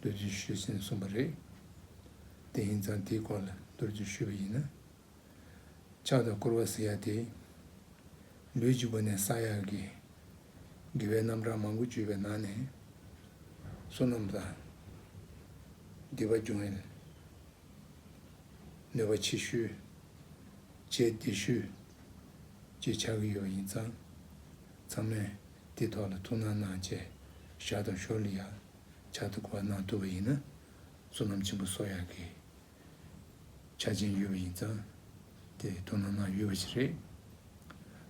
རྡོ་རྗེ་ཞུས་ཟིན་གསུངས་པ་རེད། དེ་ཡིན་ཙང་དེའི་སྐོར་ལ་རྡོ་རྗེ་ཞུས་པ་ཡིན་ན། ཕྱག་དང་བསྐོར་བ་ཟེར་ཡག་དེ། ལུས་འཇིགས་པ་ནས་བསགས་ཡག་གི། དགེ་བའི་རྣམ་གྲངས་མང་པོ་བརྗོད་པའི་ནང་ནས། བསོད་ནམས་དང། དགེ་བ་འབྱུང་བའི། ནུས་པ་ཆེ་ཤོས། བྱས་བདེ་ཤོས། ཅེས་ཆགས་ཀྱི་ཡོད་པ་ཡིན་ཙང། ཚང་མས་དེའི་ཐོག་ལ་ཐུགས་སྣང་གནང་བཅས་བཞག་དང་ཤོར་ལི་ཡ། ཕྱག་ཏུ་བསྐོར་བ་གནང་བསྟོད་པ་ཡིན་ན། བསོད་ནམས་ཆེན་པོ་སོགས་ཡག་གི། ཆ་ཅན་ཡོད་པ་ཡིན་ཙང་དེ་དོ་སྣང་གནང་ཡོད་པ་ཞིག་རེད།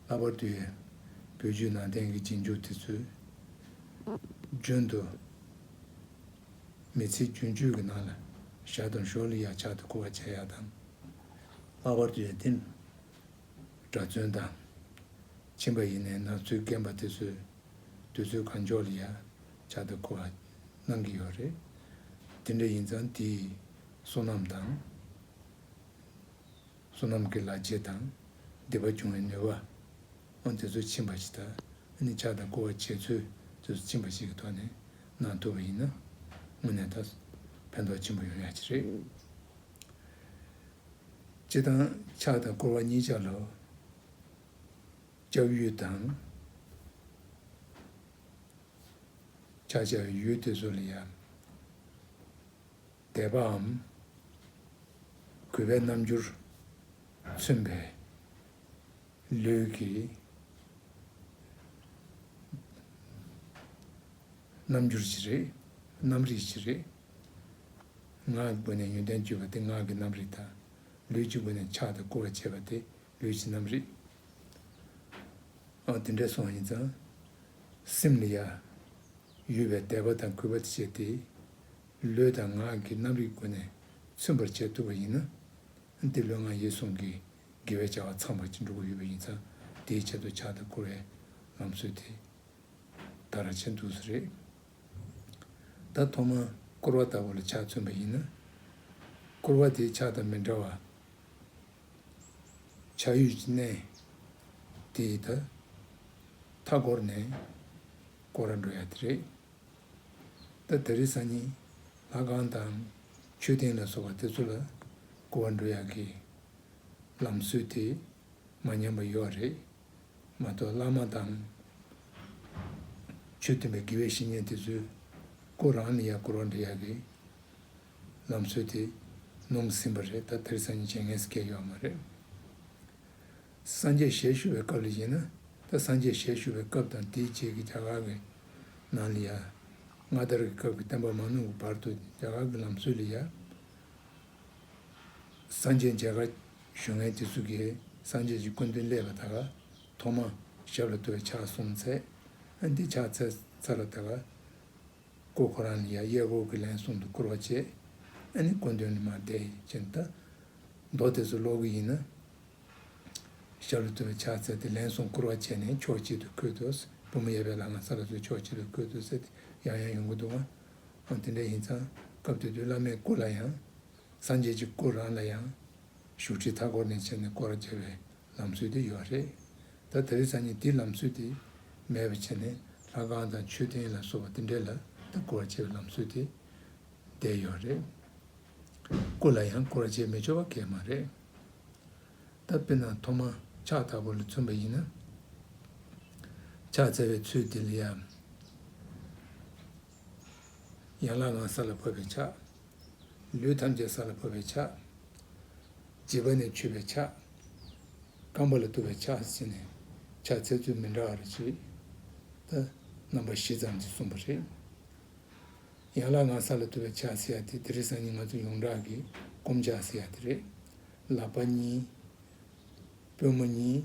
ལྷག་པར་དུ་ཡང་བོད་བརྒྱུད་ནང་བསྟན་གྱི་རྗེས་འཇུག་དེ་ཚོས། རྒྱུན་དུ་མི་ཚེའི་རྒྱུན་སྤྱོད་ཀྱི་ནང་ལ་ཞྭ་དང་ཞོ་ལི་ཡག་ཕྱག་ཏུ་བསྐོར་བ་བྱ་ཡག་དང། ལྷག་པར་དུ་ཡང་དེ་གྲྭ་བཙུན་དང། ཁྱིམ་པ་ཡིན་ནའི་ནང་ཚུད་རྒན་པ་དེ་ཚོས། དུས་ཚོད་གང་མགྱོགས་ལ་ཡ་ཆ་དང་གོ་བ་གནང་གི་ཡོད་རེད། དེ་འདྲ་ཡིན་ཙང་དེས་བསོད་ནམས་དང། བསོད་ནམས་ཀྱི་ལག་རྗེས་དང་སྡིག་པ་སྦྱོང་བའི་ནུས་པའང་དེ་ཚོས་ཕྱིན་པ་ཞིག་ད་ནི་ཆ་དང་གོ་བ་བྱས་ཚོས་དུས་ཕྱིན་པ་ཞིག་གི་ཐོག་ནས་གནང་ཐུབ་པ་ཡིན་ན་དངོས་གནས་ད་ཕན་ཐོགས་ཆེན་པོ་ཡོང་ཡ་ཆེ་རེད། སྤྱིར་བཏང་ཆ་དང་གོ་བ་གཉིས་ཆ་ལོ། ལྕགས་ཡུལ་དང། ཆ་བྱད་ཡུལ་དེ་ཚོ་ལ་ཡང་དད་པའམ་གུས་པའི་རྣམ་འགྱུར་མཚོན་པས་ལུས་ཀྱི་རྣམ་འགྱུར་གྱིས་རེད། རྣམ་རིག་གིས་རེད། ངག་གི་སྒོ་ནས་ཡོན་ཏན་བརྒྱུད་པ་དེ་ངག་གི་རྣམ་རིག་དང། ལུས་ཀྱི་སྒོ་ནས་ཕྱག་དང་བསྐུར་བ་བྱེད་པ་དེ་ལུས་ཀྱི་རྣམ་རིག། ཨ། དེ་འདྲའི་སོང་ཡིན་ཙང། སེམས་ནི་ཡ། ཡོད་པའི་དད་པ་དང་གུས་པ་བཅས་ཏེ། ལུས་དང་ངག་གི་རྣམ་རིག་སྒོ་ནས་མཚོན་པར་བྱེད་ཐུབ་པ་ཡིན་ན། འདི་ལོའི་ངང་ཡེ་སྲུང་གི་དགེ་བའི་བྱ་བ་ཚང་བར་ཅི་འགྲོ་གི་ཡོད་པ་ཡིན་ཙང་དེའི་ཆེད་དུ་ཕྱག་དང་བསྐུར་བའི་ལམ་སྲོལ་དེ། ད་ར་བྱེད་འདུག་ས་རེད། ད་ཐོག་མར་བསྐུར་བ་ལྟ་བུ་ལ་ཕྱག་མཚོན་པ་ཡིན་ན། བསྐུར་བ་དེའི་ཕྱག་དང་མི་འདྲ་བ། བྱ་ཡུལ་གྱི་གནས་དེ་ད་ལྟ་སྒོར་ནས་སྒོར་ར་འགྲོ་ཡ་དེ་རེད། ད་དེ་རི་ས་ཉི་ལྷ་ཁང་དང་མཆོད་རྟེན་ལ་སོགས་པ་དེ་ཚོ་ལ་སྒོ་བ་འགྲོ་ཡ་གི། ལམ་སྲོལ་དེ་མ་ཉམས་པ་ཡོད་རེད་མ་གཏོགས་བླ་མ་དང། ཆོས་སྟོན་པའི་དགེ་བའི་བཤེས་གཉེན་དེ་ཚོའི་སྒོ་རང་ནས་ཡར་སྐོར་བ་འགྲེ་ཡ་གི། ལམ་སྲོལ་དེ་ནོངས་ཟིན་པ་རེད་ད་དེར་སང་ཉིན་བྱེད་ངེས་སུ་སྐྱེལ་ཡོད་མ་རེད། སངས་རྒྱས་ཞལ་བཞུགས་པའི་སྐབས་ལ་གཞིགས་ན་ད་སངས་རྒྱས་ཞལ་བཞུགས་པའི་སྐབས་དང་དེའི་རྗེས་ཀྱི་རྒྱ་གར་གི་ནང་ལ་ཡ། སྔ་དར་གྱི་སྐབས་ཀྱི་བསྟན་པ་མ་ནོར་བའི་བར་དུ་རྒྱ་གར་གྱི་ལམ་སྲོལ་ལ་ཡ། སངས་རྒྱས་མཇལ་ཁ་ཞུ་མཁན་དེ་ཚོ་གིས་སངས་རྒྱས་ཀྱི་སྐུ་མདུན་ཀླད་པ་དག་ཐོག་མ་ཞབས་ལ་བསྟོད་པའི་ཕྱག་གསུམ་འཚལ། འདི་ཕྱག་འཚལ་ཚར་ལ་ད་ག། སྐུ་ཁོ་རང་ནི་ཡང་གཡས་སྐོར་གྱིས་ལན་གསུམ་དུ་བསྐོར་བ་བྱས། ཨ་ནི་སྐུ་མདུན་ནི་མ་བསྡད་ཅིང་ད། མདོ་དེ་ཚོ་ཀློག་གི་ཡིན། ཞབས་ལ་ཐུག་པའི་ཕྱག་འཚལ་ཏེ་ལན་གསུམ་བསྐོར་བ་བྱས་ནས་ཕྱོགས་གཅིག་ཏུ་འཁོད་དོ། བུ་མོ་གཡས་པའི་ལག་ན་ས་ལ་ཟུག་ཕྱོགས་གཅིག་ཏུ་འཁོད་དོ་ཟེར་ཏེ་ཡང་ཡང་ཡོང་གི་འདུག་ཨང། ཨང་དེ་འདྲ་ཡིན་ཙང་སྐབས་དེ་དུས་བླ་མའི་སྐུ་ལ་ཡང། སངས་རྒྱས་ཀྱི་སྐུ་རང་ལ་ཡང། བཞུགས་ཁྲི་མཐའ་བསྐོར་ནས་བྱས་ནས་བསྐོར་བར་བྱ་བའི་ལམ་སྲོལ་དེ་ཡོད་རེད། ད་ད་རེས་སང་ཉིན་དེའི་ལམ་སྲོལ་དེ་མེད་པར་བྱས་ནས་ལྷ་ཁང་དང་མཆོད་རྟེན་ལ་སོགས་པ་དེ་འདྲས་ལ་ད་བསྐོར་བ་བྱེད་པའི་ལམ་སྲོལ་དེ་བསྡད་ཡོད་རེད། སྐུ་ལ་ཡང་བསྐོར་བ་བྱེད་མི་ཆོག་པ་གལ་མ་རེད། ད་དཔེར་ན་ཐོག་མར་ཕྱག་བཏབ་པ་ལ་མཚོན་པ་ཡིན་ན། ཕྱག་བཙལ་བའི་ཚུལ་དེ་ལ་ཡང། ཡན་ལག་ལྔ་ས་ལ་ཕབ་པའི་ཕྱག། ལུས་ཐམས་ཅད་ས་ལ་བབས་པའི་ཕྱག། བརྗིད་པ་ནི་འཁྱུད་པའི་ཕྱག། རྐང་པ་ལ་གཏུབ་པའི་ཕྱག་ཟེར་ནས་ཕྱག་འཚལ་ཚུལ་མི་འདྲ་བ་རེ་བྱེད་དེ། རྣམ་པ་བཞི་ཙམ་གྱིས་གསུངས་པ་རེད། ཡན་ལག་ལྔ་ས་ལ་གཏུབ་པའི་ཕྱག་ཟེར་ཡ་དེ་དེ་རིགས་སང་ཉིན་ང་ཚོ་ཡོངས་གྲགས་ཀྱིས་སྐོམ་ཕྱག་ཟེར་ཡ་དེ་རེད། ལག་པ་གཉིས། པུས་མོ་གཉིས།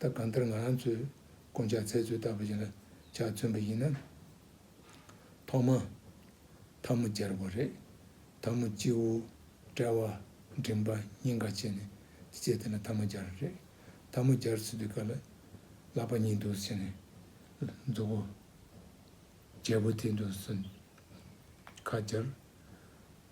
ད་གང་ལྟར་ང་རང་ཚོས་དཀོན་ཅག་ཚལ་ཚོད་ལྟ་བ་ཞིག་ལ་ཇག་བཙོན་པ་ཡིན་ན། ཐོག་མ། འཐབ་མོ་སྦྱར་དགོས་རེད། འཐབ་མོ་སྤྱི་བོ། དཔྲལ་བ། མགྲིན་པ། སྙིང་ག་བཅས་ནས་བཅད་དེ་ལ་འཐབ་མོ་སྦྱར་རེད། འཐབ་མོ་སྦྱར་ཚུད་དུས་ག་ལ། ལག་པ་གཉིས་འདུག་ཟེར་ནས། མཛུབ་བོ། རྒྱལ་བོ་དེ་འདུག་ཟེར། ཁ་སྦྱར།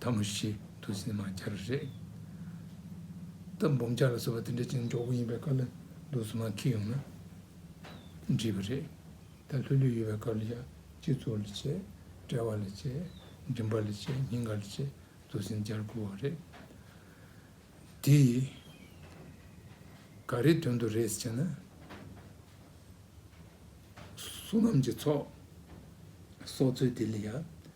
ད་མ་ཤི་དུས་སྲིན་མ་བྱ་ར་རེད། སྟབས་འབུམ་བྱ་ར་ཟེར་བ་དེ་འདྲ་ཅིག་མགྱོགས་པོ་ཡིན་པའི་སྐབས་ལ་འདུག་སྲིན་མ་ཁྱི་ཡོང་ན་འདྲིས་པ་རེད། ད་ལྷོད་ལྷོད་ཡོད་པའི་སྐབས་ལ་ཡང་སྤྱི་ཚོགས་ལ་བྱས། དཔྲལ་བ་ལ་བྱས། མགྲིན་པ་ལ་བྱས་སྙིང་ག་ལ་བྱས་དུས་སྲིན་བྱར་དགོས་བ་རེད། དེ་ཡིས་ག་རེའི་དོན་དུ་རེད་ཟེར་ན། བསོད་ནམས་ཀྱི་ཚོགས་གསོག་ཚུལ་དེ་ལ་ཡང་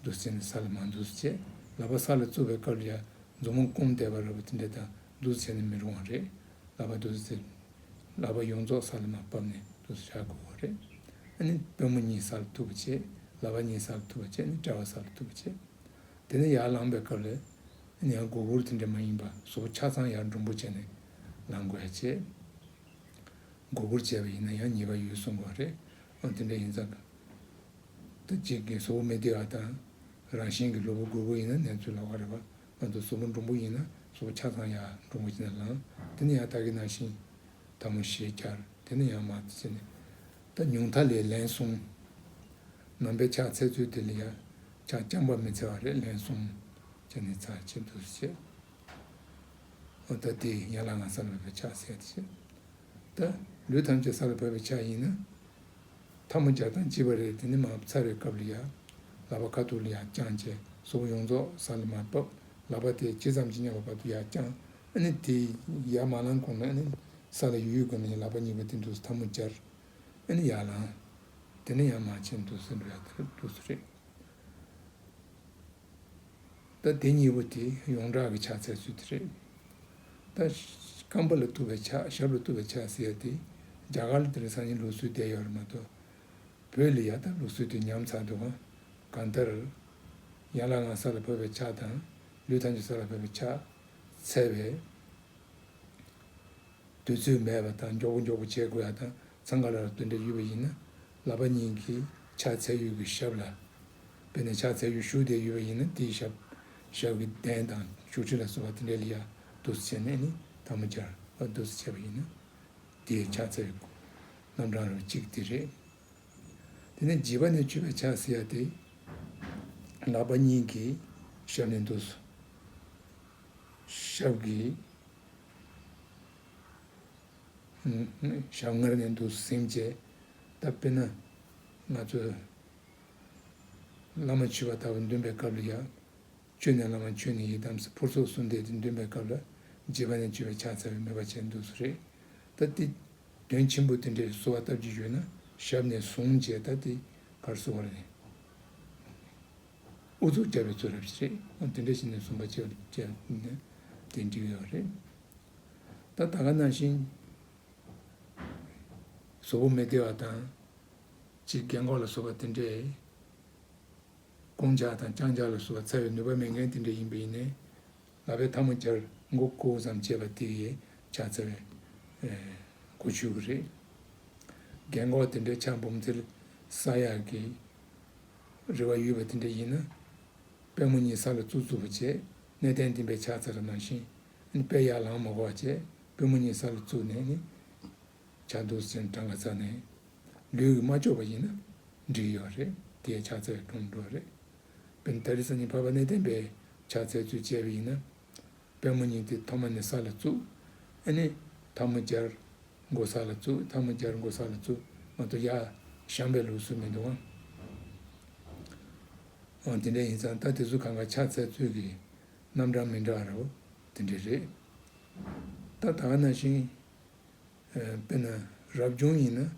རྡུལ་ཚོན་ནི་ས་ལ་མ་འཛུལ་བྱས་ལག་པ་ས་ལ་བཙུར་བའི་སྐབས་ལ་མཛུབ་མོ་བསྐུམ་བསྡད་པ་རེད་བ་དེ་འདྲ་དང་རྡུལ་ཚོན་ནི་མི་རུང་བ་རེད་ལག་པ་རྡུལ་ཚོན་ལག་པ་ཡོངས་རྫོགས་ས་ལ་མ་བབས་ནས་རྡུལ་ཚོན་བྱ་དགོས་བ་རེད། ཨ་ནི་པུས་མོ་གཉིས་ས་ལ་ཐུག་པ་བྱས་ལག་པ་གཉིས་ས་ལ་ཐུག་པ་བྱས་ནས་དཔྲལ་བ་ས་ལ་ཐུག་པ་བྱས། དེ་ནས་ཡར་ལངས་པའི་སྐབས་ལ་ཡང་སྒུར་སྒུར་དེ་འདྲ་མ་ཡིན་པ་སོ་ཆ་ཚང་ཡར་འབྲུམ་བུ་བྱས་ནས་ལངས་དགོས་བ་བྱས། སྒུར་སྒུར་བྱས་པ་ཡིན་ན་ཡང་ཉེས་པ་ཡོད་གསུང་དགོས་བ་རེད་འོན་དེ་འདྲ་ཡིན་ཙང། དང་གཅིག་གིས་བཟོ་བོ་མི་བདེ་བ་དང། རང་བཞིན་གྱིས་སློབ་བུ་རྒོད་པོ་ཡིན་ན་ནེ་ཙོས་ལག་པ་རེག་པ། ང་ཚོ་བཟོ་བོ་འབྲོང་པོ་ཡིན་ན་བཟོ་བོ་ཆ་ཚང་ཡང་འབྲོང་པོ་བྱིན་ན་ལང། དེ་ནི་ཡང་དག་གི་ན་ཤིང། དམ་མོ་ཞེས་བྱར་དེ་ནི་ཡང་མ་བྱིན་ནས། ད་ཉུང་མཐའ་ལས་ལན་གསུམ། ནང་པའི་ཕྱག་འཚལ་ཚུལ་དེ་ལས་ཡང། ཕྱག་རྐྱང་པ་མི་འཚལ་བ་རེ་ལན་གསུམ། ཅེས་ནི་ཚར་གཅིག་བསྡུ་བྱེད། ཨོ་ད་དེས་ཡན་ལག་ང་སར་སློབ་པའི་ཕྱག་འཚལ་ཏེ་བྱེད། ད་ལུས་ཐམས་ཅད་ས་ལ་བབས་པའི་ཆ་ཡིན་ན། འཐབ་མོ་སྦྱར་དང་བྱིས་པ་རེ་དེ་ནི་མ་ཚར་བའི་སྐབས་ལ་ཡར། ལག་པ་ཁ་ཐུར་ལ་ཡར་བརྐྱངས་རྗེས་གཟུགས་པོ་ཡོངས་རྫོགས་ས་ལ་མར་བབས། ལག་པ་དེ་ཇི་ཙམ་གྱིས་མཉམ་པ་བར་དུ་ཡར་བརྐྱངས། ཨ་ནི་དེ་ཡར་མ་ལངས་གོང་ན་ཨ་ནི། ས་ལ་ཡུག་ཡུག་གི་ན་ཡང་ལག་པ་གཉིས་པ་དེ་འདུག་སའི་འཐབ་མོ་སྦྱར། ཨ་ནི་ཡར་ལངས། དེ་ནི་ཡང་མ་ཕྱིན་འདུག་སའི་འགྲོ་ཡ་དེ་ལ་འདུག་སའི་རེད། ད་དེ་གཉིས་པོ་དེ་ཡོངས་གྲགས་ཀྱི་ཕྱག་འཚལ་ཚུལ་དེ་རེད། ད། སྐམ་པོ་ལ་བཏུ་བའི་ཕྱག་ཞབས་ལ་བཏུ་བའི་ཕྱག་ཟེར་ཡ་དེ། རྒྱ་གར་ལ་དེ་འདྲ་སང་ཉིན་ལུགས་སྲོལ་བསྡད་ཡོད་རེད་མ་གཏོགས། བོད་ལ་ཡ་ད་ལུགས་སྲོལ་དེ་ཉམས་ཚར་འདུག་གམ། གང་ལྟར། ཡན་ལག་ལྔ་ས་ལ་བབས་པའི་ཕྱག་དང། ལུས་ཐམས་ཅད་ས་ལ་བབས་པའི་ཕྱག། འཚལ་བས། དུས་ཚོད་མེད་པ་དང་མགྱོགས་པོ་མགྱོགས་པོ་བྱེད་དགོས་ཡ་ད་ཚང་ག་ལ་ལ་བཏུ་འདྲ་ཡོད་པ་ཡིན་ན། ལག་པ་གཉིས་ཀྱིས་ཕྱག་འཚལ་ཡུལ་གྱི་ཞབས་ལ་བོས་ནས་ཕྱག་འཚལ་ཡུལ་བཞུགས་བདེ་ཡུལ་བ་ཡིན་ན་དེའི་ཞབས་ཞབས་ཀྱི་གདན་དང་བཞུགས་ཁྲི་ལ་གསོལ་བ་དེ་འདྲའི་ལི་ཡ་བདུད་རྩི་བྱས་ནས་ནི་དང་པོ་སྦྱར་བ་བདུད་རྩི་བྱས་པ་ཡིན་ན་དེའི་ཕྱག་འཚལ་ཡུལ་སྐུ་རྣམ་གྲངས་རོ་གཅིག་དེ་རེད། དེ་ནས་བགྱི་བ་ནི་མཆོད་པའི་ཕྱག་བསིལ་ཡ་སྟེ། ལག་པ་གཉིས་ཀྱིས་ཞབས་ནས་བདུད་རྩི་ཞབས་ཀྱི། ཞབས་སྔར་ནས་འདུག་སེམས་བསྐྱེད་ད་དཔེར་ན་ང་ཚོ་བླ་མ་མཆོད་པ་ལྟ་བུ་འདོན་པའི་སྐབས་ལ་ཡང་བཅོལ་ནས་བླ་མ་མཆོད་ནས་ཡི་དམ་ཕུར་ཚོགས་གསུམ་བཟླས་ཏེ་འདོན་པའི་སྐབས་ལ་རྗེས་པ་ནས་བཅོལ་བའི་ཕྱག་འཚལ་བའི་མོས་པ་བྱས་འདུག་སུ་རེད་ད་ལྟའི་དོན་ཆེན་པོ་དེ་འདྲའི་གསོལ་བ་བཏབ་ཀྱི་ཡོད་ན་ཞབས་ནས་བཟུང་རྗེས་ད་ལྟའི་བར་གསོལ་བ་རེད། ཨུ་ཚུགས་རྒྱབ་པའི་ཚུལ་རབ་བྱེད་ཅིག་དེ་འདྲ་བྱས་ནས་བཟུང་བ་བྱས་པ་བཅས་ནས་དེ་འགྲིག་ཡོད་རེད། ད་ད་ག་ནང་བཞིན། བཟོ་བོ་མི་བདེ་བ་དང། ཅིག་རྒན་འཁོགས་ལ་བཟོ་བ་དེ་འདྲས། རྐང་འཇག་དང་རྐྱང་འཇག་ལ་བཟོ་བ་ཚ་བའི་ནུས་པ་མེད་མཁན་དེ་འདྲས་ཡིན་པ་ཡིན། ལ་བའི་ཐ་མ་འཇར་མགོ་སྐུ་བོ་ཙམ་བྱས་པ་དེ་ཡི་ཆ་ཚ་བའི། གོ་ཆོད་གི་རེད། རྒན་འཁོགས་དེ་འདྲས་ཆ་འབུམ་ཐིལ་ས་ཡག་གི། རེ་བ་ཡོད་པ་དེ་འདྲས་ཡིན་ན། པད་མོ་གཉིས་ས་ལ་བཙུག་བཙུག་བྱས་གནས་བརྟན་བསྟིམ་པའི་ཆ་ཚ་ར་ནང་བཞིན། དཔལ་ཡར་ལངས་མ་བར་བྱས་པུས་མོ་གཉིས་ས་ལ་བཙུགས་ནས་ནི། བྱ་འདུག་ཟེར་ནས་བྲང་ཁ་བཙགས་ནས། ལུས་ཀྱི་མ་ལྕོགས་པ་ཡིན་ན། འགྲིག་ཡོད་རེད་དེའི་ཕྱག་འཚལ་གྲོངས་འགྲོ་རེད། དཔེར་ན་ད་རི་ས་གཉིས་ཕ་བ་གནས་བརྟན་པས་ཕྱག་འཚལ་ཚུལ་བྱས་པ་ཡིན་ན། པད་མོ་གཉིས་དེ་ཐོག་མ་ནས་ས་ལ་བཙུགས། ཨེ་ནས། ཐ་མ་སྦྱར། མགོ་ས་ལ་བཙུགས་ཐ་མ་སྦྱར་མགོ་ས་ལ་བཙུགས་མ་གཏོགས་ཡར། བཤམས་པའི་ལུགས་སྲོལ་མི་འདུག་ཨང། འོ་དེ་འདྲ་ཡིན་ཙང་ད་དེ་ཚོ་གང་ག་ཕྱག་འཚལ་ཚུལ་གྱི། རྣམ་གྲངས་མི་འདྲ་བ་རེ་བ་དེ་འདྲས་རེད། ད་ད་ན་བཞིན། དཔེར་ན་རབ་བྱུང་ཡིན་ན།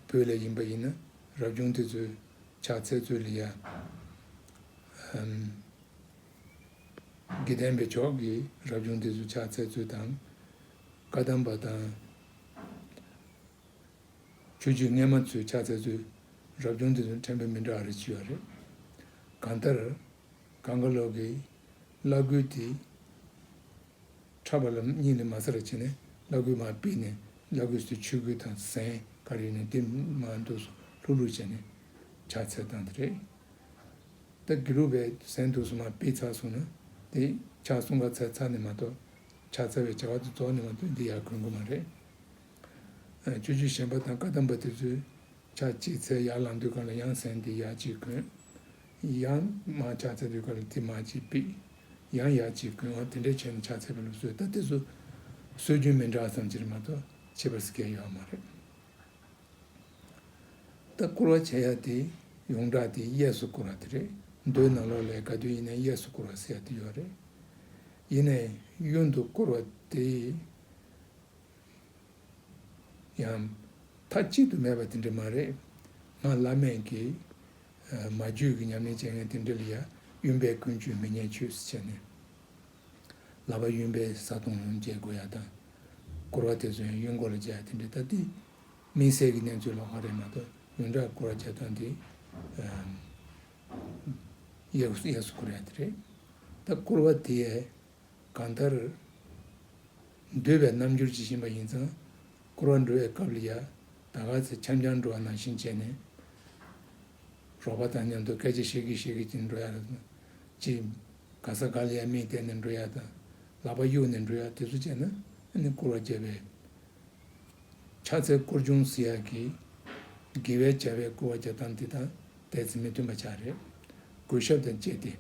བོད་ལས་ཡིན་པ་ཡིན་ན་རབ་བྱུང་དེ་ཚོའི་ཕྱག་འཚལ་ཚུལ་ལ་ཡ། དགེ་ལྡན་པའི་ཕྱོགས་ཀྱི་རབ་བྱུང་དེ་ཚོའི་ཕྱག་འཚལ་ཚུལ་དང། བཀའ་གདམས་པ་དང། ཆོས་བརྒྱུད་རྔན་མ་ཚོས་ཕྱག་འཚལ་དུས། རབ་བྱུང་དེ་ཚོ་དྲན་པའི་མི་འདྲ་བ་རེ་མཆིས་པ་རེད། གང་ལྟར། གངས་དཀར་ལགས་ཀྱིས་བླ་སྐུལ་དེ། འཁྲབ་པ་ལ་སྙིང་ནས་མ་ཚ་ར་བྱེད་ནས་བླ་སྐུལ་མ་སྤེལ་ནས་བླ་སྐུལ་སུས་ཆོས་སྐུལ་དང་གཟན་དཀར་ཡིན་ནའི་དེ་མ་འདུག་སུ་ལྷུག་ལྷུག་བྱས་ནས་ཕྱག་འཚལ་བཏང་དེ་རེད། ད་དགེ་ལུགས་པའི་གཟན་འདུག་སུ་མ་སྤེལ་ཚར་སོང་ན་དེ་ཕྱག་གསུང་ག་ཚལ་ཚར་ནས་མ་གཏོགས་ཕྱག་འཚལ་བའི་བྱ་བ་དེ་རྫོགས་ནས་མ་གཏོགས་འདི་ཡར་གོན་དགོས་མ་རེད། ཆོས་བརྒྱུད་གཞན་པ་དང་བཀའ་གདམས་པ་དེ་ཚོའི་ཆ་གཅིག་ཚད་ཡར་ལངས་དུས་སྐབས་ལ་ཡང་ཟན་དེ་ཡར་གཅིག་གོན། ཡང་མར་ཕྱག་འཚལ་དུས་སྐབས་ལ་དེ་མར་གཅིག་ཕིག། ཡང་ཡར་གཅིག་གོན་འང་དེ་འདྲའི་བྱས་ནས་ཕྱག་འཚལ་བ་ལ་སོས་ད་དེ་ཚོ་སྲོལ་རྒྱུན་མི་འདྲ་ཙམ་གྱིས་མ་གཏོགས་ཁྱད་པར་སྐྱེ་ཡོད་མ་རེད། ད་བསྐོར་བ་བྱས་ཡ་དེ་ཡོངས་གྲགས་དེ་གཡས་སུ་བསྐོར་བ་དེ་རེད་མདོའི་ནང་ལོགས་ལས་ག་དུས་ཡིན་ན་གཡས་སུ་བསྐོར་བ་ཟེར་ཡ་དེ་ཡོད་རེད། ཡིན་ནའི་གཡོན་དུ་བསྐོར་བ་དེ། ཡང། མཐའ་གཅིག་ཏུ་མེད་པ་དེ་འདྲ་མ་རེད། ང་བླ་མེད་ཀྱི། མ་རྒྱུད་ཀྱི་ཉམས་ལེན་བྱེད་མཁན་དེ་འདྲ་ལ་ཡང་གཡོན་པས་ཀུན་སྤྱོད་མི་སྙན་ཆོས་སུ་བྱས་ནས། ལག་པ་གཡོན་པས་བཟའ་བཏུང་བརྗེ་དགོས་ཡ་དང། སྐོར་བ་དེ་ཚོ་ཡང་གཡོན་སྐོར་ལ་བརྗེ་ཡ་དེ་འདྲ་ད་ལྟའི་དམིགས་བསལ་གྱི་གནས་ཚུལ་ལ་འོག་རེད་མ་གཏོགས་གཡོན་དགྲ་སྐོར་བ་བརྗེ་སྟངས་དེ། གཡས་སུ་སྐོར་ཡ་དེ་རེད། ད་སྐོར་བ་དེ། གང་ལྟར། འདོད་པའི་རྣམ་འགྱུར་ཇི་བཞིན་པ་ཡིན་ཙང། བསྐོར་བ་འགྲོ་བའི་སྐབས་ལ་ཡ་ད་ག་ཚད་འཆམ་འཆམ་འགྲོ་བ་ནང་བཞིན་བྱས་ནས། རོགས་པ་དང་མཉམ་དུ་སྐད་ཆ་བཤད་ཀི་བཤད་ཀི་ཀྱིན་འགྲོ་ཡ་ད་ཅི། ག་ས་ག་ལ་ཡ་མིན་བལྟས་ནས་འགྲོ་ཡ་ད། ལག་པ་གཡུག་ནས་འགྲོ་ཡ་དེ་ཚོ་བྱས་ན་ནི་བསྐོར་བ་བརྒྱབ་པའི་ཕྱག་འཚལ་བསྐོར་ཅུང་ཟི་ཡག་གི། དགེ་བའི་བྱ་བས་བསྐོར་བ་བརྒྱབ་སྟངས་འདི་དང་དད་རྩི་མི་མཐུན་པ་ཆགས་རེད། གུས་ཞབས་དང་བཅས་ཏེ།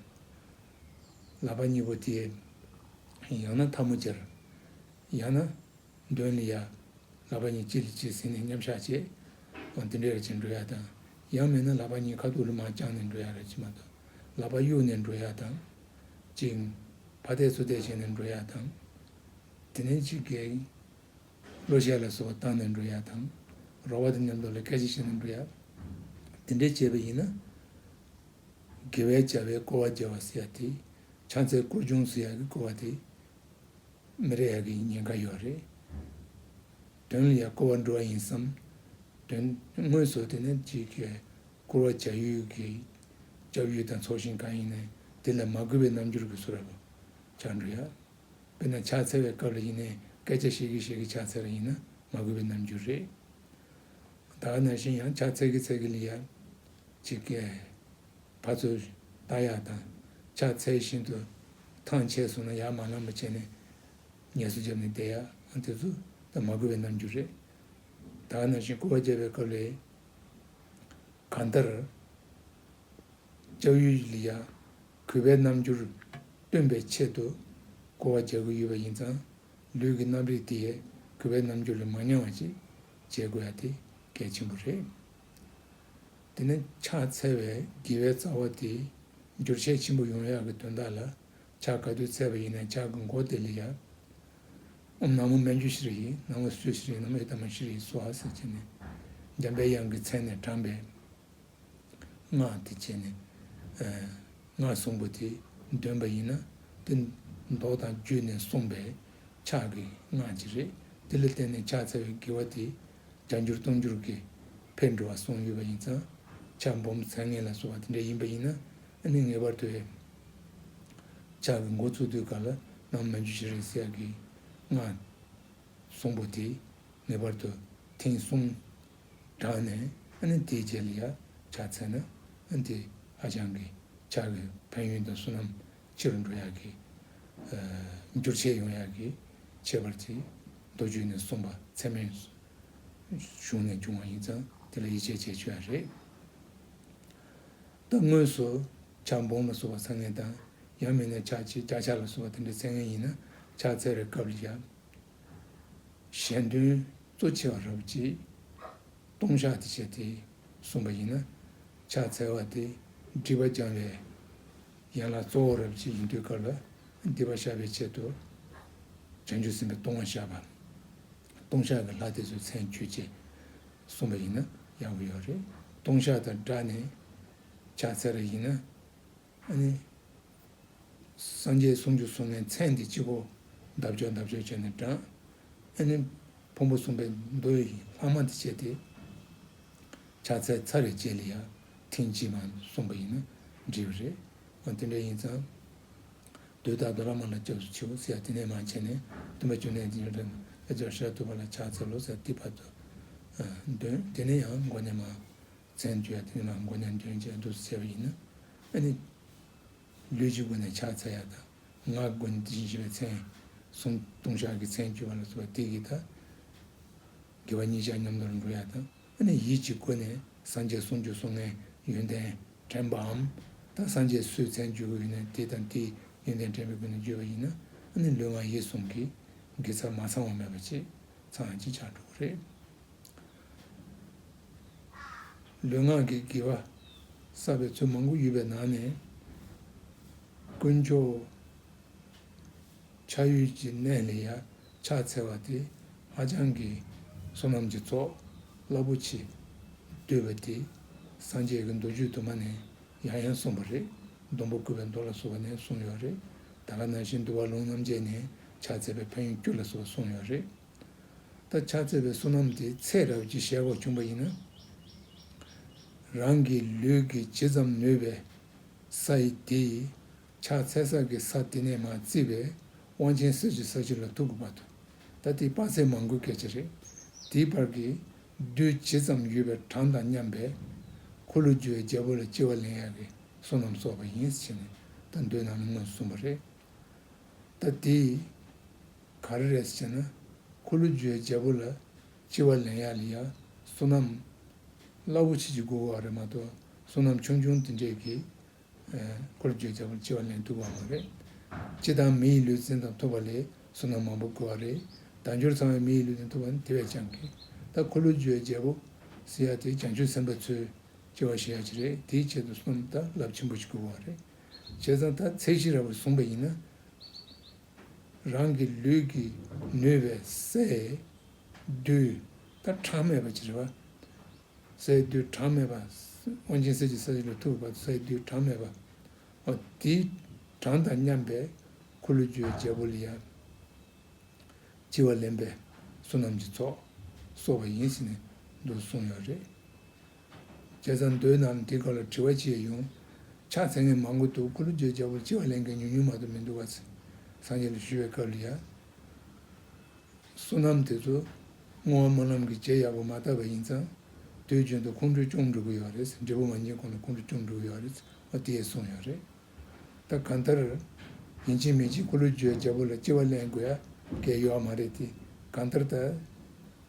ལག་པ་གཉིས་པོ་དེ། ཡང་ན་འཐབ་མོ་སྦྱར། ཡང་ན། འདོན་ལི་ཡ། ལག་པ་གཉིས་གཅིག་ལ་གཅིག་ཟིན་ནས་མཉམ་གཞག་བྱེད། དང་དེ་འདྲའི་ར་བྱེད་འགྲོ་ཡ་དང། ཡང་མེད་ན་ལག་པ་གཉིས་ཁ་ཐུག་ལུ་མ་བརྐྱང་ནས་འགྲོ་ཡ་ར་བྱེད་མ་ཏོ། ལག་པ་གཡུག་ནས་འགྲོ་ཡ་དང། གཅིག། ཕ་བལྟས་ཚུ་བལྟས་བྱས་ནས་འགྲོ་ཡ་དང། དེ་ནས་གཅིག་གེ། གླུ་གཞས་ལ་སོགས་བཏང་ནས་འགྲོ་ཡ་དང། རོགས་བ་དེ་ནི་ལོ་ལ་སྐད་ཆ་བཤད་ནས་འགྲོ་ཡ། དེ་འདྲའི་བྱས་པ་ཡིན་ན། དགེ་བའི་བྱ་བས་སྐོར་བ་བརྒྱ་བ་ཟེར་ཡ་དེ། ཕྱག་འཚལ་སྐོར་ཅུང་ཟད་ཡག་གི་སྐོར་བ་དེ། མི་རེ་ཡག་གི་ཉེན་ཁ་ཡོད་རེད། དོན་ལ་ཡག་སྐོར་བ་འགྲོ་བ་ཡིན་བསམ། དོན། དངོས་སུ་དེ་ནི་གཅིག་གིས་སྐོར་བ་བྱ་ཡུལ་གྱི། སྐྱབས་ཡུལ་དང་ཚོགས་ཞིང་གང་ཡིན་ནས་དེ་ལ་མ་གུས་པའི་རྣམ་འགྱུར་གྱི་ཚུར་ར་བ། ཆགས་འགྲོ་ཡ། དཔེར་ན་ཕྱག་འཚལ་བའི་སྐབས་ལ་ཡིན་ནས་སྐད་ཆ་བཤད་གི་བཤད་གི་ཕྱག་འཚལ་བ་ཡིན་ན་མ་དགོས་པའི་རྣམ་འགྱུར་རེད། ད་ནང་བཞིན་ཡང་ཕྱག་འཚལ་གི་འཚལ་གི་ལི་ཡ། ཅིག་ཀྱེ། ཕར་ཚུར། བལྟ་ཡག་དང། ཕྱག་འཚལ་བཞིན་དུ། ཐང་ཆད་སོང་ན་ཡར་མར་ལམ་མ་བྱས་ནས། ངལ་གསོ་བརྒྱབ་ནས་བསྡད་ཡ། དེ་ཚོ་ད་མ་དགོས་པའི་རྣམ་འགྱུར་རེད། ད་ནང་བཞིན་བསྐུར་བ་རྒྱབ་པའི་སྐབས་ལས། གང་ལྟར། ལྕགས་ཡུའི་ལི་ཡ། གུས་པའི་རྣམ་འགྱུར་སྟོན་པའི་ཆེད་དུ་གོ་བ་རྒྱག་གི་ཡོད་པ་ཡིན་ཙང། ལུས་ཀྱི་རྣམ་རིག་དེས་གུས་པའི་རྣམ་འགྱུར་ལས་མ་ཉམས་བ་ཅིག་བྱེད་དགོས་ཡ་དེ་གལ་ཆེན་པོ་རེད། དེ་ནི་ཕྱག་འཚལ་བའི་དགེ་བའི་རྩ་བ་དེ་འགྱུར་བྱེད་ཆེན་པོ་ཡོང་ཡག་གི་དོན་དག་ལ་ཕྱག་ག་དུས་འཚལ་བ་ཡིན་ན་ཕྱག་གི་མགོ་དེ་ལས་ཡག་ཨམ་ནག་མོ་སྨན་རྒྱུ་ཞིག་རེད་ནང་ལ་སུས་ཞིག་རེད་ནམ་ཨེ་ད་མ་ཞིག་རེད་སོ་ཨ་ཟེར་བྱས་ནས་འཇམ་པའི་དབྱངས་ཀྱི་མཚན་ནས་དྲངས་པའི། སྔགས་འདི་བྱས་ནས། སྔར་གསུངས་པ་དེ་འདོན་པ་ཡིན་ན་དེ་མདོག་དང་བརྒྱུད་ནས་གསུངས་པས་ཕྱག་གི་སྔགས་ཅི་རེད་དེ་ལ་བརྟེན་ནས་ཕྱག་འཚལ་བའི་དགེ་བ་དེ་བྱ་འགྱུར་གཏོང་འགྱུར་གྱི་ཕེབས་འགྲོ་བ་གསུངས་ཡོད་པ་ཡིན་ཙང་ཕྱག་འབུམ་མཚན་ངན་ལ་སོགས་པ་དེ་འདྲ་ཡིན་པ་ཡིན་ན་ནི་ངེས་པར་དུ་ཨེ། ཕྱག་གི་མགོ་བཙུགས་དུས་ག་ལ་ནང་མན་ཇུ་ཞེ་རེ་སྲས་ཀྱི་སྔགས། གསུངས་པོ་དེ་ངེས་པར་དུ་དེང་གསུངས། དྲངས་ནས་ཨ་ནི་དེའི་རྗེས་ལ་ཡར་ཕྱག་འཚལ་ན་ཨ་ནི་དེ་ཧ་ཅང་གི་ཕྱག་གི་ཕན་ཡོན་དང་བསོད་ནམས་ཆེ་རུ་འགྲོ་ཡག་གི། འགྱུར་ཆེ་ཡོང་ཡག་གི་ཁྱད་པར་གྱིས་མདོ་རྒྱུད་ནས་གསུངས་པ་ཚད་མའི་གཞུང་ནས་འབྱུང་བ་ཡིན་ཙང་དེ་ལ་ཡིད་ཆེས་བྱེད་ཆོག་ཡ་རེད། ད་དངོས་སུ་ཕྱག་འབུམ་ལ་བསུ་བ་ཚར་ངེས་དང་ཡང་མིན་ན་ཕྱག་ཕྱི་བརྒྱ་ཕྱག་ལ་བསུ་བ་དེ་འདྲའི་ཚད་ངེས་ཡིན་ན་ཕྱག་འཚལ་བའི་སྐབས་ལ་ཡར་གཞན་དོན་གཙོ་ཆེ་བ་རབ་བྱེད་ཀྱི་སྟོང་ཕྱག་དེ་བྱས་ཏེ་གསུངས་པ་ཡིན་ན། ཕྱག་འཚལ་བ་དེ་སྒྲིབ་པ་སྦྱང་བའི་ཡན་ལག་གཙོ་བོ་རབ་བྱེད་ཡིན་དུས་དཀར་ལ་སྡིག་པ་བཤགས་པའི་ཆེད་དུ། བྱང་ཆུབ་སེམས་དཔའི་སྟོང་བ་ཞབས་པའམ་སྟོང་ཕྱག་གི་ལྷ་དེ་ཚོའི་མཚན་བརྗོད་ཅེས་གསུངས་པ་ཡིན་ན་ཡག་པོ་ཡོད་རེད། སྟོང་ཕྱག་དང་སྦྲགས་ནས་ཕྱག་འཚལ་བ་ཡིན་ན། སངས་རྒྱས་སུམ་ཅུ་སོང་ནས་མཚན་དེ་གཅིག་པོ་འདབ་ཆགས་འདབ་ཆགས་བྱས་ནས་བགྲངས། ཕུང་པོ་གསུམ་པའི་མདོ་ཡི་ལྷག་མ་འདི་བྱས་ཏེ། ཕྱག་འཚལ་ཚར་རེ་བྱས་ལ་ཡང་ཐེངས་གཅིག་མ་གསུངས་པ་ཡིན་ན་འགྲིག་པ་རེད། དེ་འདྲ་ཡིན་ཙང། དུས་རྟག་ཏུ་བླ་མ་ལ་སྐྱབས་སུ་མཆིའོ་ཟེར་ཡ་དེ་ནས་མ་བྱས་ནས་སྟོན་པ་བཅུ་གནས་འདི་འདྲ་འདྲ་ལ་སྦྱར་ཞག་བསྡུ་བ་ལ་ཕྱག་འཚལ་ལོ་ཟེར་ཏེ་བར་དུ་འདོན་དེ་ནས་ཡང་མགོ་ནས་མ་བཙན་བྱོལ་དེ་ནང་མགོ་ཉམས་སྐྱོན་ཅན་སྒྲུབ་ཟེར་བ་ཡིན་ན། ཨ་ནི། ལུས་ཀྱི་སྒོ་ནས་ཕྱག་འཚལ་ཡ་དང། ངག་གི་སྒོ་ནས་དེ་བཞིན་གཤེགས་པའི་མཚན། གསུང་བཏུང་ཕྱག་གི་མཚན་བསྐྱུར་བ་ལ་སོགས་སྟེགས་ཀྱི་ཐ། དགེ་བ་གཉིས་ཆར་མཉམ་དུ་རུ་འགྲོ་ཡ་དང། ཨ་ནི་ཡིད་ཀྱི་སྒོ་ནས་སངས་རྒྱས་གསུང་བརྒྱུད་སོ་ལྔའི་ཡོན་ཏན་དྲན་པའམ། དང་སངས་རྒྱས་སུའི་མཚན་བརྒྱུད་ཀྱི་ཡོན་ཏན་དེ་དང་དེའི་ཡོན་ཏན་དྲན་པའི་སྒོ་ནས་བརྒྱུད་པ་ཡིན་ན། ཨ་ནི་ལུས་ངག་ཡིད་གསུམ་གྱི། དགེ་རྩ་མ་ཚང་བ་མེད་པ་གཅིག། ཚང་ཡང་གཅིག་ཆར་འགྲོ་གི་རེད། ལུས་ངག་གི་དགེ་བ་བསགས་པའི་ཚུལ་མང་པོ་ཡོད་པའི་ནང་ནས། དཀོན་མཆོག་ཆགས་ཡུལ་གྱི་གནས་ལས་ཡར་ཕྱག་འཚལ་བ་དེ་ཧ་ཅང་གི་བསོད་ནམས་ཀྱི་ཚོགས་རླབས་པོ་ཆེ་བསྡུས་པ་དེ་སངས་རྒྱས་ཀྱི་མདོ་རྒྱུད་དུ་མ་ནས་ཡང་ཡང་གསུངས་པ་རེད་སྡོང་པོ་བརྐུས་པའི་མདོ་ལ་གསུངས་བ་ནས་གསུངས་ཡོད་རེད་ད་ག་ན་བཞིན་འདུལ་བ་ལུང་རྣམ་རྒྱལ་ནས་ཕྱག་འཚལ་པའི་ཕ་ཡུལ་སྐྱུར་ལ་གསུངས་བ་གསུངས་ཡོད་རེད། ད་ཆ་རྩོད་པའི་བསོད་ནམས་དེ་ཚེ་རབས་ཀྱི་ཞལ་འོག་བྱུང་བ་ཡིན་ན། རང་གི་ལུས་ཀྱི་ཇི་ཙམ་ནུས་པའི་ས་ཡི་དེ་ཡིས་ཕྱག་འཚལ་ས་ཀྱི་ས་དེ་ནས་མ་བརྩིས་པའི་དབང་ཆེན་གསེར་གྱི་ས་ཆུ་ལ་ཐུག་གི་བར་དུ་ད་དེ་དཔག་ཚད་མང་དགོས་སྐད་ཆ་རེད། དེའི་བར་གྱི་རྡུལ་ཇི་ཙམ་ཡོད་པའི་གྲངས་དང་མཉམ་པའི་འཁོར་ལོ་རྒྱུ་བའི་རྒྱལ་པོ་ལ་སྐྱེ་བ་ལེན་ཡག་གི་བསོད་ནམས་གསོག་པ་ཡིན་ཟེར་ནས་ད་འདོད་ནའང་ངོས་སུ་གསུངས་པ་རེད། ད་དེས་ག་རེ་རེད་ཟེར་ན། ཁོ་ལུ་ཇོའི་རྒྱལ་པོ་ལ་ལྕི་བ་ལེན་ཡག་ལི་ཡག་བསོད་ནམས་རླབས་པོ་ཆེ་གྱི་དགོས་བ་རེད་མ་གཏོགས་བསོད་ནམས་ཆུང་ཆུང་དེ་འདྲས་ཀྱིས་ཁོ་ལུ་ཇོའི་རྒྱལ་པོར་ལྕི་བ་ལེན་ཐུབ་བ་མ་རེད། སྤྱི་དང་མི་ཡི་ལུས་རྩེན་དང་ཐོབ་པ་ལས་བསོད་ནམས་མང་པོ་དགོས་བ་རེད། དལ་འབྱོར་ཚང་བའི་མི་ཡི་ལུས་རྩེན་ཐོབ་པ་ནི་དེ་བས་ཀྱང་གི། ད་ཁོ་ལུ་ཇོའི་རྒྱལ་པོ་ཟེར་ཡག་དེ་བྱང་ཆུབ་སེམས་དཔའ་ཚོས་ལྕི་བ་བྱེད་ཡག་ཅིག་རེད་དེའི་ཆེད་དུ་བསོད་ནམས་རླབས་ཆེན་པོ་ཞིག་དགོས་བ་རེད། བྱས་ཙང་ད་ཚེ་ཤི་ར་བར་བཟུང་བ་ཡིན་ན། རང་གི་ལུས་ཀྱི་ནུས་པས་ཟས་རྡུལ་ད་གྲངས་མེད་པ་ཅི་རེ་བ། ཟས་རྡུལ་གྲངས་མེད་པ། དབང་ཆེན་གསེར་གྱི་ས་གཞི་ལ་ཐུག་པའི་བར་དུ་ཟས་རྡུལ་གྲངས་མེད་པ། འོ་དེའི་གྲངས་དང་མཉམ་པའི་ཁུ་ལུ་ཅོའི་རྒྱལ་པོ་ལ་ཡང། ལྕི་བ་ལེན་པའི་བསོད་ནམས་ཀྱི་ཚོགས་གསོག་པ་ཡིན་ཟེར་ནས་འདུག་གསུངས་ཡོད་རེད། བྱས་ཙང་མདོའི་ནང་དེ་ག་ལ་དྲི་བ་བྱེད་ཡོང། ཕྱག་འཚལ་ངས་མང་པོ་འདུག་ཀུ་ལུ་བརྗོད་བྱ་བོར་ལྕི་བ་ལེན་མཁན་ཉུང་ཉུང་མ་གཏོགས་མི་འདུག་བ། སངས་རྒྱས་ལ་ཞུ་བའི་སྐབས་ལ་ཡང། བསོད་ནམས་དེ་ཚོ། བསྔོ་བ་མོ་རྣམས་ཀྱིས་རྗེས་ཡག་པོ་མ་བཏབ་པ་ཡིན་ཙང། དུས་རྒྱུན་དུ་ཁོང་ཁྲོ་ཅུང་འགྲོ་གི་ཡོད་རེད་འབྲས་བུ་མ་འབྱིན་གོང་ལ་ཁོང་ཁྲོ་ཅུང་འགྲོ་གི་ཡོད་རེད་ཨོ་དེས་གསུངས་ཡོད་རེད། ད་གང་ལྟར། ཡིན་གཅིག་མིན་གཅིག་ཀུ་ལུ་བརྗོད་བྱ་བོ་ལ་ལྕི་བ་ལེན་དགོས་ཡ་གལ་ཡོའ་མ་རེད་དེ་གང་ལྟར་ད།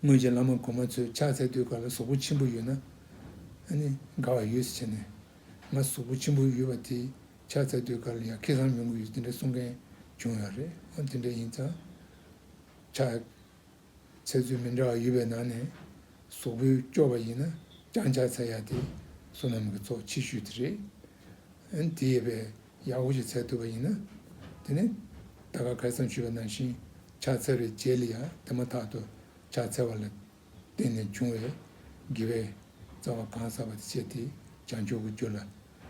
སྔོན་གྱི་བླ་མ་གོང་མ་ཚོས་ཕྱག་འཚལ་དུས་ག་ལ་གཟུགས་པོ་ཆེན་པོ་ཡོད་ན། དགའ་བ་ཡོད་ཟེར་བྱས་ནས། ང་གཟུགས་པོ་ཆེན་པོ་ཡོད་པ་དེས་ཕྱག་འཚལ་དུས་ག་ལ་ཡང་ཁེ་བཟང་ཡོང་གི་ཡོད་དེ་འདྲ་གསུང་མཁན་བྱུང་ཡོད་རེད། དེ་འདྲ་ཡིན་ཙང། ཕྱག་འཚལ་ཚུལ་མི་འདྲ་བ་ཡོད་པའི་ནང་ནས། གཟུགས་པོའི་སྐྱོ་བ་ཡིན་ན་རྐྱང་ཕྱག་འཚལ་ཡག་དེ་བསོད་ནམས་ཀྱི་ཚོགས་ཆེ་ཤོས་དེ་རེད། དེ་ཡོད་པས་ཡང་དབུགས་ཀྱི་ཚད་ཐུབ་པ་ཡིན་ན། དེ་ནི་ད་ག་གལ་ཙམ་ཆུད་པ་ནང་བཞིན་ཕྱག་འཚལ་བའི་རྗེས་ལ་ཡང་དེ་མ་ཐག་ཏུ་ཕྱག་འཚལ་བ་ལ་བརྟེན་ནས་འབྱུང་བའི་དགེ་བའི་རྩ་བ་གང་བསགས་པ་དེ་བྱས་ཏེ་བྱང་ཆུབ་ཀྱི་རྒྱུ་ལ་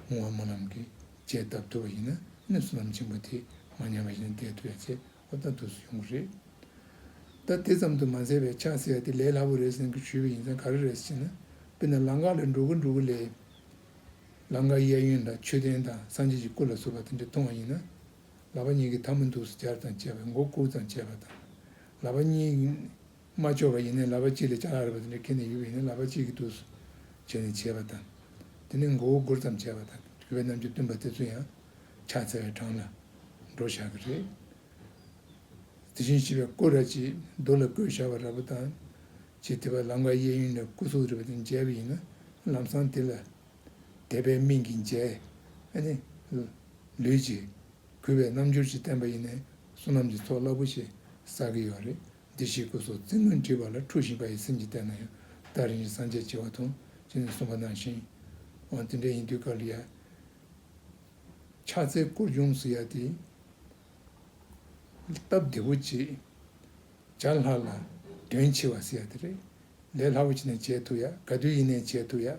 སྔོ་བ་སྨོན་ལམ་གྱི་རྗེས་གདབ་ཐུབ་པ་ཡིན་ན་གནོད་སེམས་ལམ་ཆེན་པོ་དེ་མ་ཉམས་པ་བཞིན་བསྐྱེད་ཐུབ་པའི་ཚེ་ཁོ་ལྟ་ཐུག་སུ་ཡོང་གི་རེད། ད་དེ་ཙམ་དུ་མ་ཟེར་བའི་ཕྱག་འཚལ་བ་དེ་ལས་སླ་པོ་རེད་ཟེར་གི་ཞུས་པ་ཡིན་ཙང་ག་རེ་རེད་ཟེར་ན། དཔེར་ན་ལང་ཀ་ལ་འགྲོ་གི་འགྲོ་གི་ལས། ལང་ཀ་གཡས་གཡོན་ལ་མཆོད་རྟེན་དང་སངས་རྒྱས་ཀྱི་སྐུ་ལ་བཟོ་བ་དེ་འདྲ་མཐོང་བ་ཡིན་ན། ལག་པ་གཉིས་ཀྱིས་ཐང་མོ་འདུག་སུ་སྦྱར་དང་བཅས་པ་མགོ་བཀུར་དང་བཅས་པ་དང། ལག་པ་གཉིས། མ་བཅོས་པ་ཡིན་ནའི་ལག་པ་གཅིག་ལས་བྱ་ལ་རེ་བ་དེ་འདྲ་ཁེལ་ནས་ཡོད་པ་ཡིན་ན་ལག་པ་གཅིག་གིས་དུས་སུ་བྱས་ནས་བྱེད་པ་དང། དེ་ནས་མགོ་བོ་སྒུར་ཙམ་བྱས་པ་དང་རྒྱུ་བའི་རྣམ་འགྱུར་སྟོན་པ་དེ་ཚོ་ཡང་ཕྱག་འཚལ་བའི་གྲངས་ལ་འགྲོ་བཞག་གི་རེད། དེ་བཞིན་བྱིས་པའི་སྐུ་ར་གཅིག་རྡོ་ལ་བརྐོས་བཞག་པ་ར་བུ་དང། ཅེས་དེ་བས་ལམ་ཀ་གཡས་གཡོན་ནས་སྐུ་གཟུགས་རེ་བ་དེ་མཇལ་བ་ཡིན་ན་ལམ་སྲང་དེ་ལ་དད་པའི་སྨིན་གྱིས་མཇལ། ནི། ལུས། ཀྱིས་གུས་པའི་རྣམ་འགྱུར་གྱིས་བསྟན་པ་ཡིན་ནའི་བསོད་ནམས་ཀྱི་ཚོགས་རླབས་པོ་ཆེ་བསགས་ཀྱི་ཡོད་རེད། བདེ་གཤེགས་སྐུ་སོགས་རྩིག་ངོས་འདྲིས་པ་ལ་འཁྲུགས་ཤིང་དགའ་ཡི་སེམས་ཀྱིས་བལྟས་ན་ཡང་བདག་རིན་ཆེན་སངས་རྒྱས་བྱེ་བ་དང་བཅས་ནས་གསུངས་པ་ནང་བཞིན། འོན་དེ་འདྲ་ཡིན་དུས་ཀཱ་ལི་ཡ། ཕྱག་འཚལ་བསྐུར་ལྗོངས་སུ་ཡལ་ཏེ། སྟབས་བདེ་བོ་བྱེད། བྱ་ལྷག་ལ། དོན་ཆེ་བ་ཟེར་ཡ་དེ་རེད། ལས་སླ་བོ་ཆེ་ནས་བྱས་ཐུབ་ཡ་ག་དུས་ཡིན་ནས་བྱས་ཐུབ་ཡ།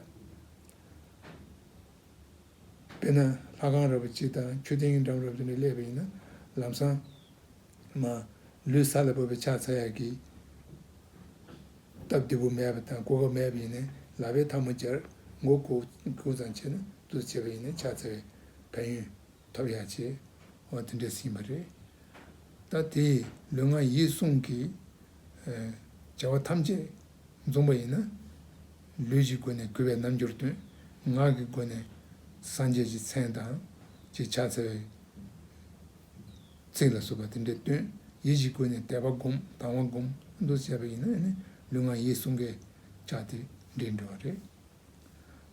དཔེར་ན་ལྷ་ཁང་རབ་བོ་ཅིག་དང་ཆོས་སྡིངས་འགྲམ་རབ་ཅིག་ནས་གླས་པ་ཡིན་ན་ལམ་སང། མ། ལུས་ས་ལ་བབས་པའི་ཕྱག་འཚལ་ཡར་གྱིས། སྟབས་བདེ་བོ་མེད་པ་དང་གོ་སྐབས་མེད་པ་ཡིན་ནས་ལག་པའི་མཐའ་མ་སྦྱར། མགོ་བསྐུར་ཙམ་བྱས་ན་དུ་བྱེད་པ་ཡིན་ནས་ཕྱག་འཚལ་བའི་ཕན་ཡོན་ཐོབ་ཡ་ཆེ། འོ་དེ་འདྲས་ཟིན་པ་རེད། ད་དེས་ལུས་ངག་ཡིད་གསུམ་གྱི། བྱ་བ་ཐམས་ཅད་འཛོམས་པ་ཡིན་ན། ལུས་ཀྱི་སྒོ་ནས་གུས་པའི་རྣམ་འགྱུར་སྟོན། ངག་གི་སྒོ་ནས་སངས་རྒྱས་ཀྱི་མཚན་དང། ཅེས་ཕྱག་འཚལ་བའི། ཚིག་ལ་བཟོད་པ་དེ་འདྲའི་སྟོན། ཡིད་བཞིན་ཀུན་ནས་དད་པ་བསྒོམ་དང་བ་བསྒོམ་དུ་བྱས་པ་ཡིན་ན། ལུས་ངག་ཡིད་གསུམ་ཀའི་ཆ་དེ་འདྲས་འགྲོ་བ་རེད།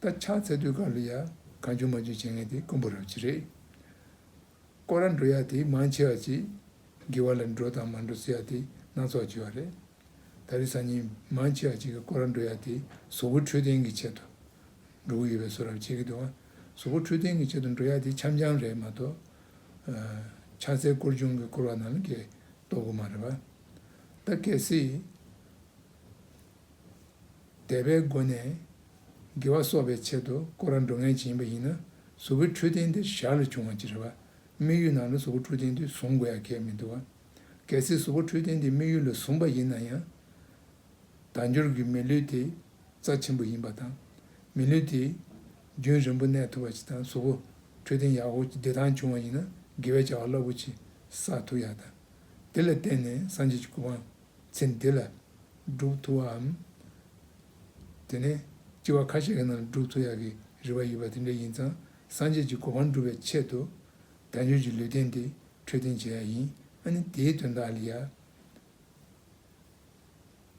ད་ཆ་ཚད་རྡུལ་དཀར་ལུས་ཡ་གང་ཆུང་མ་ཆུང་བྱེད་མཁན་དེ་དཀོན་པོ་རབ་བྱེད་རེད། ཀོ་ར་འགྲོ་ཡ་དེ་མང་ཆེ་བ་གཅིག་དགེ་བ་ལ་འགྲོ་དང་མ་འགྲོ་ཟེར་ཡ་དེ་སྣ་ཚོགས་བྱེད་བ་རེད། ད་རེས་སང་ཉིན་མང་ཆེ་བ་གཅིག་གི་ཀོ་ར་འགྲོ་ཡ་དེ་བཟོ་བོ་འཕྲོད་བསྟེན་གྱི་ཆེད་དུ་འགྲོ་གི་ཡོད་པའི་བཟོ་རབ་བྱེད་ཀྱི་འདུག་བཟོ་བོ་འཕྲོད་བསྟེན་གྱི་ཆེད་དུ་འགྲོ་ཡ་དེ་འཆམ་འཆམ་རེད་མ་གཏོགས། ཕྱག་འཚལ་བསྐུར་སྦྱོང་གིས་བསྐུར་བ་རྣམས་ཀྱིས་བསྟོད་དགོས་མ་རེད་པ། ད་གལ་སྲིད། དད་པའི་སྒོ་ནས་དགེ་བ་གསོག་པའི་ཆེད་དུ་བསྐོར་བ་འགྲོ་ངེས་ཅན་ཡིན་པ་ཡིན་ན་གཟུ་བོའི་འཕྲུལ་རྟེན་དེ་ཞར་ལ་བྱུང་བ་ཅི་རེད་བ། དམིགས་ཡུལ་ནང་ལ་གཟུ་བོ་འཕྲུལ་རྟེན་དེ་བཟུང་དགོས་ཡ་གལ་མི་འདུག་བ། གལ་སྲིད་གཟུ་བོ་འཕྲུལ་རྟེན་དེ་དམིགས་ཡུལ་ལ་བཟུང་པ་ཡིན་ན་ཡང། དལ་འབྱོར་གྱི་མི་ལུས་དེ། རྩ་ཆེན་པོ་ཡིན་པ་དང། མི་ལུས་དེ། རྒྱུན་རིང་པོ་གནས་ཐུབ་པ་ཞིག་དང་གཟུགས་པོ། འཕྲོད་བསྟེན་ཡག་ཧོར་གྱི་བདེ་ཐང་བྱུང་བ་ཡིན་ན་དགེ་བའི་བྱ་བ་རླབས་པོ་ཆེ་བསགས་ཐུབ་ཡག་དང། དེ་ལ་བརྟེན་ནས་སངས་རྒྱས་ཀྱི་སྐུ་དབང་ཚེ་འདི་ལ། སྒྲུབ་ཐུབ་བའམ། དེ་ནས། སྐྱེ་བ་ཁ་ཤས་ཀྱི་ནང་སྒྲུབ་ཐུབ་ཡག་གི་རེ་བ་ཡོད་པ་དེ་འདྲ་ཡིན་ཙང་སངས་རྒྱས་ཀྱི་སྐུ་དབང་སྒྲུབ་པའི་ཆེད་དུ། དལ་འབྱོར་གྱི་ལུས་རྟེན་དེ་འཕྲོད་བསྟེན་བྱེད་ཡག་ཡིན་ཨ་ནི་དེའི་དོན་དག་ལ་ཡ།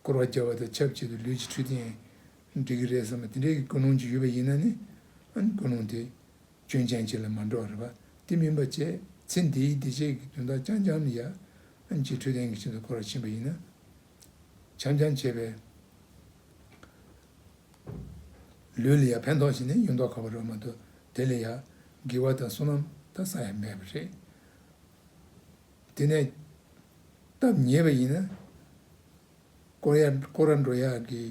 བསྐོར་བ་བརྒྱབ་པ་དང་ཆབས་ཅིག་ཏུ་ལུས་ཀྱི་འཕྲུལ་རྟེན་འགྲིག་གི་རེད་བསམ་པ་དེ་འདྲའི་ཀུན་སློང་ཅིག་ཡོད་པ་ཡིན་ན་ནི། ཀུན་སློང་དེ་སྐྱོན་ཅན་ཅིག་ལ་མ་འགྲོ་བ་རེད་པ་དེ་མིན་པ་བཅས་ཚེ་འདིའི་བདེ་སྐྱིད་ཀྱི་དོན་དག་རྐྱང་རྐྱང་ནི་ཡ་གྱི་འཕྲུལ་རྟེན་གྱི་ཆེད་དུ་བསྐོར་བར་ཕྱིན་པ་ཡིན་ན། བྱམས་རྐྱང་བྱས་པའི་ལུས་ལ་ཡང་ཕན་ཐོགས་ཤིག་ནི་ཡོད་མདོག་ཁ་བ་རོལ་མ་ཐུབ་དེ་ལས་ཡ་གི་བ་དང་བསོད་ནམས་ད་ས་ཡ་མེད་པ་རེད། དེ་ནས་སྟབས་ཉེས་པ་ཡིན་ན། ཀོ་ཡ་ཀོ་ར་འགྲོ་ཡ་གི་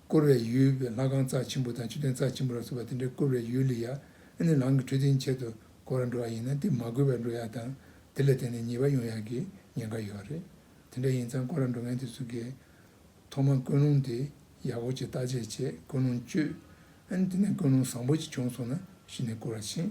བསྐོར་བའི་ཡུལ་བའི་ལྷ་ཁང་རྩ་ཆེན་པོ་དང་ཆུ་སྟེང་རྩ་ཆེན་པོ་ལ་སོགས་པ་དེ་འདྲའི་བསྐོར་བའི་ཡུལ་ལ་ཡ་ནི་ལང་གི་འཕྲུལ་རྟིང་ཆེད་དུ་ཀོ་ར་འགྲོ་བ་ཡིན་ན་དེ་མ་བསྐོས་པར་འགྲོ་ཡ་དང་དེ་ལས་དེ་ནས་ཉེས་པ་ཡོང་ཡ་གི་ཉེན་ཁ་ཡོད་པ་རེད། དེ་འདྲ་ཡིན་ཙང་ཀོ་ར་འགྲོ་མཁན་དེ་ཚོ་གིས་ཐོག་མར་ཀུན་སློང་དེ་ཡག་པོ་བྱེད་བརྟག་དཔྱད་བྱས་ཀུན་སློང་བཅོས། ཨ་ནི་དེ་ནས་ཀུན་སློང་བཟང་པོ་ཅིག་བྱུང་སོང་ན་གཞི་ནས་བསྐོར་བ་ཕྱིན།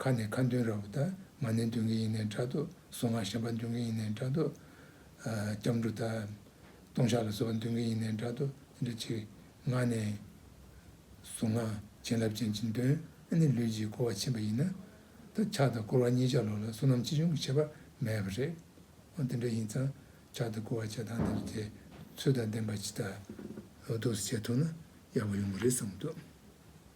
ཁ་ནས་ཁ་འདོན་ར་བུ་དག་མ་ནས་འདོན་གི་ཡིན་ནས་འདྲ་འདུག་གཟུ་ངག་ཞན་པ་འདོན་གི་ཡིན་ནས་འདྲ་འདུག། སྐྱབས་འགྲོ་དག་སྟོང་ཤག་ལ་བཟོ་བ་འདོན་གི་ཡིན་ནས་འདྲ་འདུག་དེ་འདྲ་ཆེ་ངག་ནས། གཟུ་ངག་བྱིན་རླབས་ཅན་གྱིས་འདོན་ཨ་ནི་ལུས་ཀྱིས་བསྐོར་བ་ཕྱིན་པ་ཡིན་ན། ད་ཕྱག་དང་བསྐོར་བ་གཉིས་ཆ་ལོག་ལ་བསོད་ནམས་ཅི་བྱུང་གི་ཁྱད་པར་མེད་པ་རེད། དེ་འདྲ་ཡིན་ཙང་ཕྱག་དང་བསྐོར་བ་བྱེད་སྟངས་འདི་འདྲ་དེ་ཚོད་དང་ལྡན་པ་ཇི་ལྟར་ལོ་ཏོག་སུ་བྱེད་ཐུབ་ན་ཡག་པོ་ཡོང་གི་རེད་བསམ་གི་འདུག།